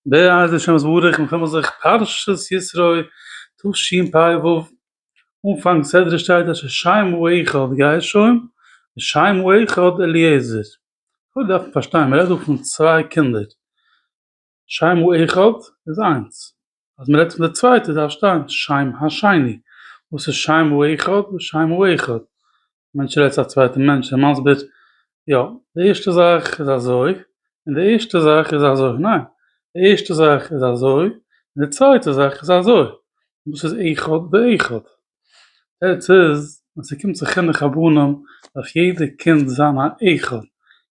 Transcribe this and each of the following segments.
בעז ה השם יתברך מ'קומען זיך פרשת יתרו תשפ ו אנפאנג סדרה שטייט אשר שמו אחד גרשום ושמו אחד אליעזר קודם דארף מען פארשטיין מ'רעדט דא פון צוויי קינדער שמו אחד איז איינס אז מ'רעדט פון די צווייטע דארף שטיין שם השני וואס איז שמו אחד ושמו אחד מענטש רעדט צו א צווייטן מענטש און מסביר יא די ערשטע זאך איז אזוי און די ערשטע זאך איז אזוי ניין די ערשטע זאך איז אזוי און די צווייטע זאך איז אזוי דאס איז אחד באחד עטס איז ווען ס'קומט צו חינוך הבנים דארף יעדע קינד זיין א אחד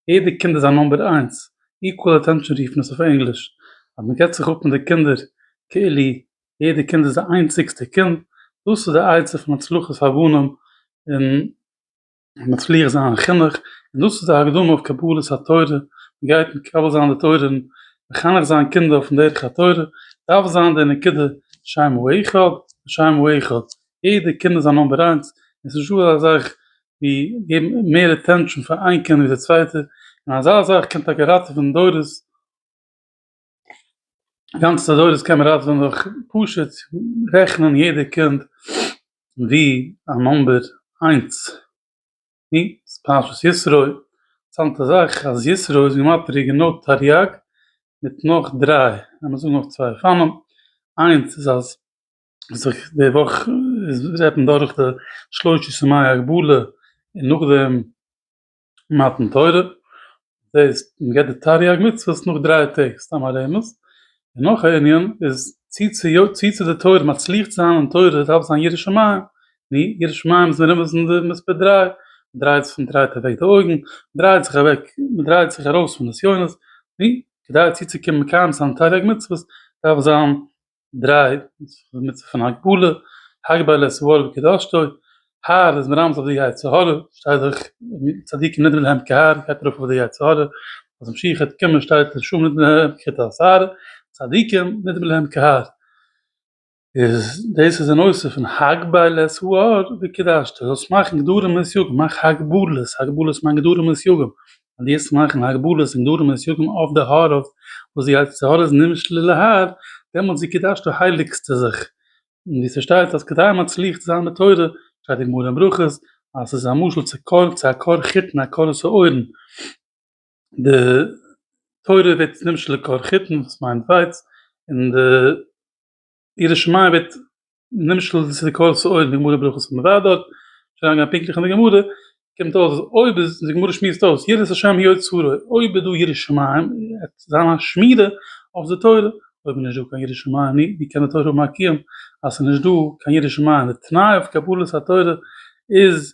יעדע קינד איז א נאמבער איינס איקוועל אטענשאן רופן עס אויף ענגליש אז מ'געט זיך אפ מיט די קינדער כאילו יעדע קינד איז די איינציגסטע קינד, דאס איז די עצה פון הצלחת הבנים און מצליח זיין אין חינוך, און דאס איז די הקדמה אויף קבלת התורה, מען גייט מקבל זיין די תורה און מחנך זיין קינדער אויפן דרך התורה, דארף זיין די נקודה שם הוא אחד ושם הוא אחד, יעדע קינד איז א נאמבער איינס, און ס'נישט דא אזא זאך ווי געבן מער אטענשאן פאר איין קינד ווי די צווייטע, און אזא זאך קען טאקע ראטעווען דורות. גאנץ אזוי דאס קען מען ראטווען דורך פשוט רעכענען יעדע קינד ווי א נומבער איינס ני ס'איז פרשת יתרו אינטערסאנטע זאך אז יתרו איז גמטריא גענוי תרי"ג מיט נאך דריי לאמיר זאגן נאך צוויי לפעמים איינס איז אז זיך די וואך איז רעדט מען דורך די שלשה סמי הגבלה און נאכדעם מתן תורה, דאס מ'געט די תריג מצוות נאך דריי טעג, סתם א רמז, און נאך א ענין איז צו צו די תורה מצליח צו זיין אין תורה דארף זיין ירא שמים, נו, ירא שמים איז מרומז אין די מספר דריי, מ'דרייט זיך מ'דרייט אוועק די אויגן, מ'דרייט זיך אוועק, מ'דרייט זיך ארויס פון נסיונות, נו, כדי צוצוקומען מקיים זיין תריג מצוות דארף זיין. דריי מיט זיך פון הגבלה, הגבלה איז סברה בקדשתו, האר איז מרמז אויף די יצר הרע, שטייט דאך צדיקים נדרים להם כהאר, גייט ארויף אויף די יצר הרע, אז משיח'עט קומען שטייט לשם נדרים להם ככתות האר, צדיקים נדרים להם כהאר, איז דאס איז אן אוסף פון הגבלה סהאר בקדשתו, זאלסט מאכן גדרים אין סייגים, מאך הגבלות, הגבלות מיינט גדרים אין סייגים, אז דו וועסט מאכן הגבלות און דברים מסויגים אויף די האר אויף וואס זי הייסט האר איז נמשל אל ההר דעמאלטס ווי קידשת הייליגסטו זיך און ווי ס'שטייט אז כדי מצליח צו זיין בתורה שטייט אין גמרא אין ברכות אז ס'איז א משל צו קול צו א קור חיטן א קור'ס אויערן די תורה ווערט נמשל לקור חיטן וואס מיינט ווייץ און די. ירא שמים ווערט נמשל צו די קול סוער אין די גמרא ברכות פון מוועד דארט, שוין אריינגעגאנגען פונקטליך אין די גמרא, קומט אויס אז אויב איז, די גמרא שמועסט אויס, יראת השם היא אוצרו, אויב איז דא ירא שמים וועט זיין א שמירה אויף די תורה, אויב איז נישטא קיין ירא שמים נו ווי קען די תורה האבן א קיום אז ס'איז נישטא קיין ירא שמים, די תנאי אויף קבלת התורה איז.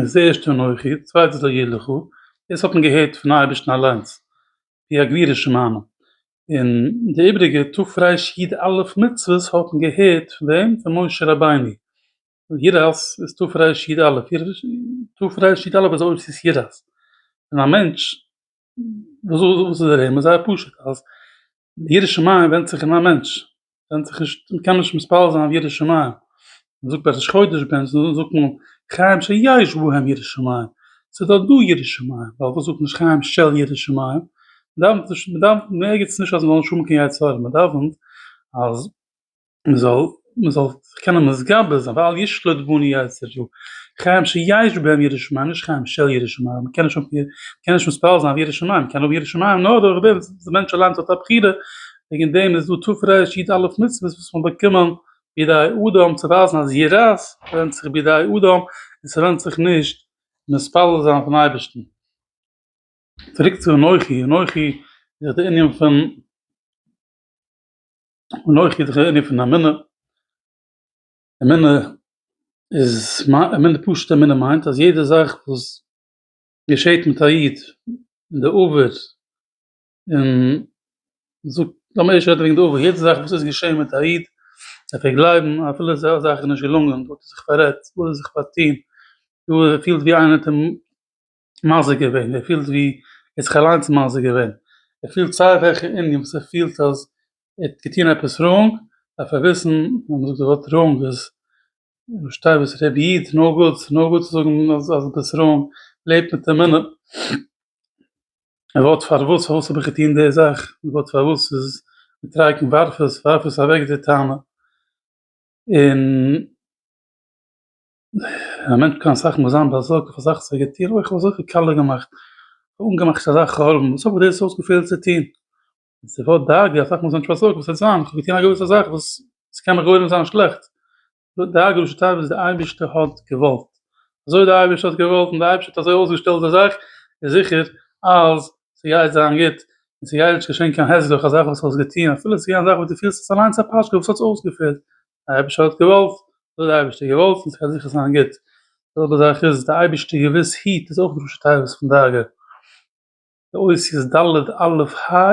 איז די ערשטע אנכי, די צווייטע איז לא יהיה לך, דאס האט מען געהערט פון אייבערשטן אליינס, ווי א גבורה שמענו, און די איבריגע תפרש י ד א' מצוות האט מען געהערט פון וועם? פון משה רבינו, יראת איז תפרש י ד א', תפרש י ד א' איז אויב ס'איז יראת, און א מענטש וואס איז דער ענין? זייער פשוט, אז די ירא שמים ווענדט זיך אין א מענטש, ווענדט זיך נישט, מען קען נישט מספר זיין ירא שמים, מען זאגט פרשת שקוידעש בענטש מען זאל זאגן חיים שיש בהם ירא שמים, ס'איז דארט דא ירא שמים, ווייל וואס זאגט נישט חיים של ירא שמים, מ'דאוונט נישט, מ'דאוונט, מ'ערגעצט נישט אז מ'זאל נישט האבן קיין יצר הרע, מ'דאוונט אז. מען זאל מען זאל זיך קענען מתגבר זיין ואל ישלוט בנו יצר יו כ חיים שיש בהם יראת שמים נישט חיים של יראת שמים מען קען נישט מען קען נישט מתפלל זיין אויף יראת שמים מען קען האבן יראת שמים נאר דורך דעם וואס דער מענטש אליינס האט א בחירה וועגן דעם איז דא תפארת ר' איד א' מצוות וואס מ'האט באקומען בידי אדם צו ווייזן אז יראת ווענדט זיך בידי אדם און ס'ווענדט זיך נישט מתפלל זיין אויפן אייבערשטן. צוריק צו אנוכי אנוכי איז דאך די ענין פון. און אויך איז דער ענין פון אמונה, אמונה איז, אמונה פשוט'ע אמונה מיינט אז יעדע זאך וואס געשעט מיט א איד אין די עבר, און מ'זאגט, לאמיר ערשט רעדן וועגן די עבר, יעדע זאך וואס איז געשען מיט א איד, דארף ער גלייבן אפילו אזא זאך איז נישט געלונגען, דא האט ער זיך פאררעדט, דא האט ער זיך פארטון, דא ער פילט ווי איינער האט אים מזיק געווען, ער פילט ווי ער האט זיך אליינס מזיק געווען, ער פילט סיי וועלכע ענין וואס ער פילט אז ער האט געטון עפעס ראונג, דארף ער וויסן אז מ'זאגט די ווארט ראונג איז פארשטיי וואס ר' איד, נאו גוד, ס'איז נאו גוד צו זאגן אז דו ביסט ראונג, לעב מיט די מינע, די ווארט פארוואס, פארוואס האב איך געטון די זאך, די ווארט פארוואס איז מתרגם ווארף עס, ווארף עס אוועק די טענה, און. א מענטש קען אסאך מאל זיין באזארגט אויף אזאך וואס ער גייט טון, אוי כ'האב אזויפיל קאלער געמאכט, כ'האב אנגעמאכט אזא חלום, וואס האב איך דאס אויסגעפעלט צו טון? די ווארט דאגה, אסאך מאל איז א מענטש באזארגט וואס וועט זיין, כ'האב געטון א געוויסע זאך וואס ס'קען מיך גורם זיין שלעכט, דאס דאגה למשל טייל וואס דער אייבערשטער האט געוואלט, אזוי ווי דער אייבערשטער האט געוואלט און דער אייבערשטער האט אזוי אויסגעשטעלט די זאך, איז זיכער אז ס'גייט זיין גוט, און ס'גייט נישט געשען קיין העסל דורך א זאך וואס האסט געטון, אפילו ס'געווען א זאך וואס דו פילסט עס אליינס א פשקע וואס האט זיך אויסגעפעלט, דער אייבערשטער האט געוואלט, דאס האט דער אייבערשטער געוואלט און ס'קען זיכער זיין גוט, די זעלבע זאך איז דער אייבערשטער געוויס היט איז אויך ראשי תיבות פון דאגה, די אותיות ד' אלף ה'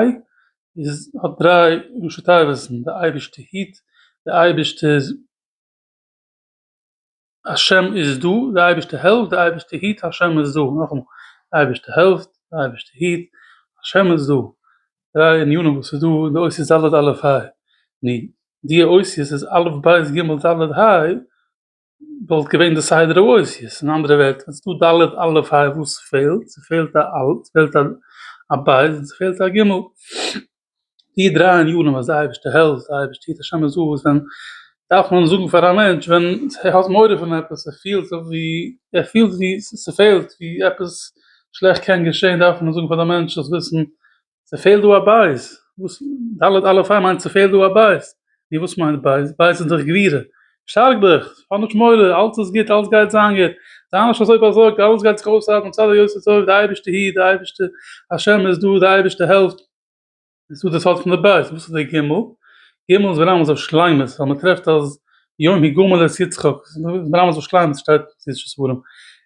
איז האט דריי ראשי תיבות'ן, דער אייבערשטער היט, דער אייבערשטער. השם איז דא, די אייבערשטער העלפט, די אייבערשטער היט, השם איז דא, נאכאמאל, די אייבערשטער העלפט, די אייבערשטער היט, השם איז דא, דריי ענינים וואס איז דא אין די אותיות ד' אלף ה', און די אותיות איז א' ב' ג' ד' ה', וואלט געווען די סדר האותיות, אין אנדערע ווערטער, ווען ס'איז דא ד' אלף ה' וואס פעלט? ס'פעלט א א', ס'פעלט א ב', און ס'פעלט א ג'. די דריי ענינים אז די אייבערשטער העלפט, די אייבערשטער טוט השם עז אויס, ווען דארף מען זאגן פאר א מענטש ווען ער האט מורא פון עפעס, ער פילט זיך ווי ער פילט ווי ס'פעלט ווי עפעס שלעכט קען געשען דארף מען זאגן פאר די מענטש זאלסט וויסן ס'פעלט דא א בית, ד' אלפים מיינט ס'פעלט דא א בית. ווי וואס מיינט בייז? בייז איז דאך גבירה. שטארק דיך, האב נישט מורא, אלץ איז גוט, אלץ גייט זיין גוט, זיי נישט אזוי באזארגט, אלעס גייט זיך אויסארבעטן מצד היותו טוב, די אייבערשטער היט, די אייבערשטער השם איז דא, די אייבערשטער העלפט. איז דא די סוד פון די בייז, וואס איז די ג'? ג' איז ברמז אויף שלימות, ווייל מען טרעפט אז יום ה' גומל את יצחק, ברמז אויף שלימות, שטייט אין סי' שספורים,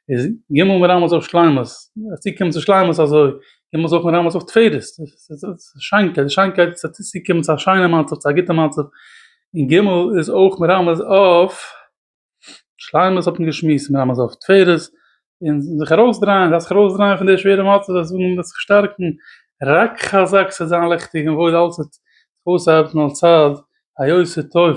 איז ג' ברמז אויף שלימות, אז צו קומען צו שלימות אזוי, קען מען זוכן רמז אויף תפארת, שיינקייט, שיינקייט האט צו קומען צו א שיינע מצב, צו א גוטע מצב, און ג' איז אויך מרמז אויף שלימות האט מען געשמועסט, מרמז אויף תפארת, און זיך ארויס דרייען, דארף זיך ארויס דרייען פון די שווערע מצב, זיי זאגן מען דארף זיך שטארקן, רק חזק ס'וועט זיין לעכטיג און וואויל אלץ וועט זיך אויסארבעטן על צד היותר טוב.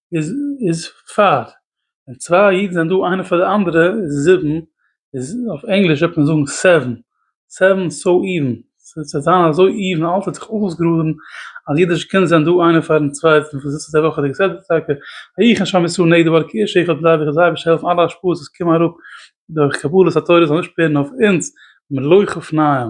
איז פאר, ווען צוויי אידן זענען דא איינער פאר די אנדערע איז זיבן, איז אויף ענגליש וועט מען זאגן סעווען, סעווען סאו איווען, ס'וועט זיין אזוי איווען, אלעס וועט זיך אויסגראדן, אז יעדע שכן זענען דא איינער פארן צווייטן, פון זיצן אזוי וואכעדיגע סדר טאקע, ויהי כן שם ישראל נגדי ועל כאיש אחד בלייב איך זיי אביסל העלפן אלע השפעות וואס קומען אראפ דורך קבלת התורה זאל נישט ווערן אויף אונז מלא חפניים.